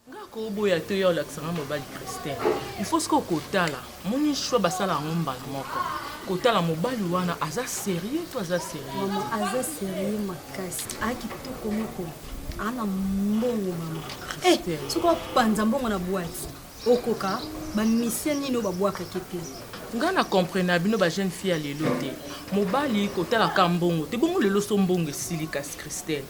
nga koboya to ya olakisa nga mobali christin il faut sikoyo kotala moni choix basala yango mbala moko kotala mobali wana aza sérieux to aza sérieux mama aza sérieux makasi akitoko moko ana mbongo mama eh, soki opanza mbongo na bwati okoka bamisie nini oyo babwakaki te ngai na comprena bino bajeune fille ya lelo te mobali kotalaka mbongo te bongo lelo so mbongo esili kasi christelle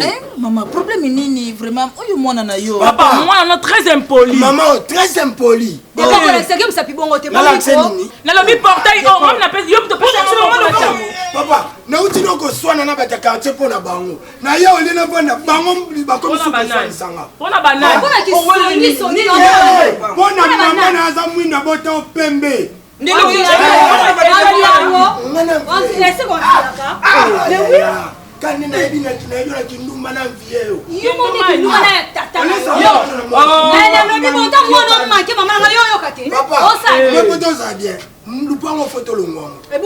Eh, maman, problème nini vraiment oyo mwana na yo papa mwana na très impoli maman très impoli ekokolakisaki mosapi bongo te nalobi portail o mami napesi yo moto papa nauti no koswana na bato ya quartier mpo na bango na ye olie navanda bango bakomisi koswanisanga mpo na mama na aza mwinda bota opembe kani nayebi nayo na kindumba na vie yo oyokateosa bien lupango fo tolongwango eh,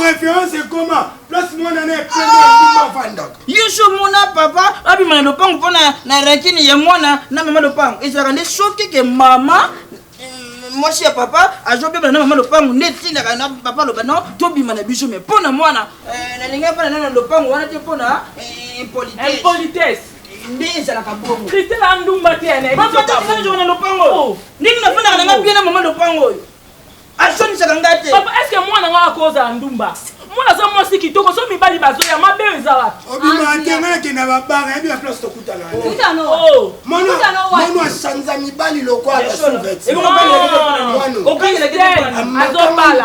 référence ekoma place mwana na epema avandaka yesu omona papa abima na lopango mpo na rakini ya mwana na mama lopango ezalaka nde soki ke mama mm, mwasi ya papa azobebana na mama lopango nde etindaka na papa aloba no tobima na biso me mpo na mwana eh, nalingaki mpo na nana lopango wana te mpo na eh, impolitesse nde ezalaka bongo kristela andumba te anayebiaa na lopango oyo oh. ndenge nafandaka nanga bie na mama lopango oyo asonisaka ngai te papa eske mwana ngai akozala ndumba mwana aza mwasi kitoko so mibali bazoya mabe oyo eza wapi obima te ngai nakenda babara yabi baplace tokutana mwana asanza mibali lokwala azobala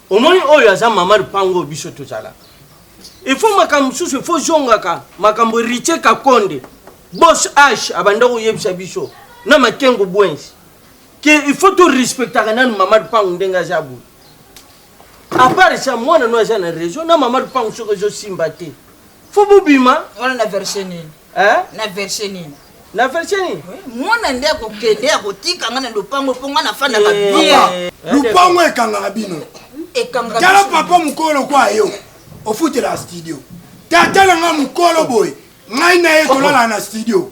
omoni oyo aza mama lupango oyo biso tozalaka il faut makambo mosusu il faut zongaka makambo ritie kakonde bos h abanda koyebisa biso na makengo bwensi ke il faut torespectaka nanu mama lupango ndenge aza boye apart sa mwana no aza na raison na mama lupango soki ezosimba te Faut bobima. Wana na version nini? Hein? Na version nini? Na version nini? Mwana nde akokende akotika nga na lopango mpo nga nafandaka eh, bien. Eh, eh, lopango ekangaka bino. Ekangaka. Tala papa mokolo kwa yo. Ofutela studio. Tata na nga mokolo boye. Ngai na ye tolala na studio.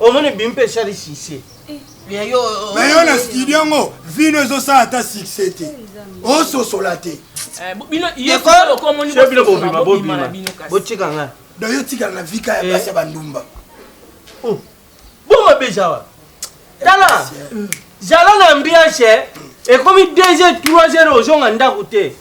omoni bimi mpe esali succès mais yo na studio yango vino ezosala ata succès te ososola te botika nga donc yo tikala na vika ya eh. basi ya bandumba oh. boma beja wa tala zala na ambiance ekomi 2 heures 3 heures ozonga ndako te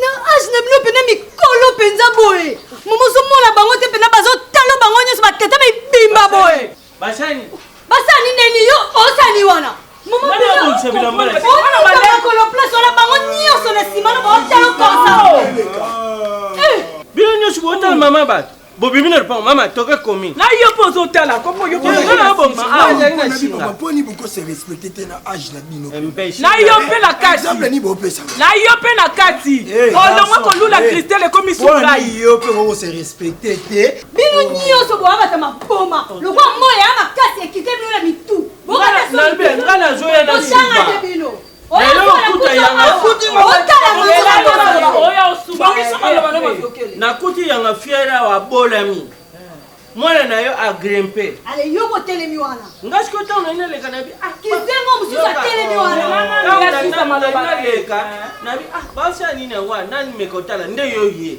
na age na bino mpena mikolo mpenza boye mama ozomona bango te mpena bazotalo bango nyonso batata mibimba boye basani basani neni yo osani wana makolo place wana bango nyonso na nsima na baotalo konsa bino nyonso bootala mama bato bobimi na lopango mama toke komi na yo mpo ozotala koponi bokose respecte te na age na bino na yo mpe na kati na yo mpe na kati olongwe kolula kristel ekomi sukai yo mpe okokose respecte te bino nyonso boyabata maboma lokwa moya ya makasi ekite bino na mitu bokana bino nakuti yanga fiere awa abolami mwana na yo agrimpe ale yo motelemi wana nga siko ntango nai naleka nabi ah, kizengo mosusu atelemi wanaleka nabi ah, basi ya nini yango nani mekotala nde yo ye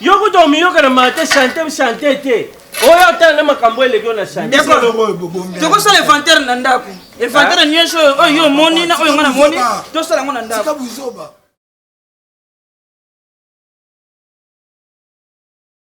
Yo kutu omiyoka na mate chante chante te. Oyo otala na makambo eleki yo na chante. Tokosala inventaire na ndako. Inventaire nyonso oyo oyo yo omoni na oyo ngai namoni tosala yango na ndako.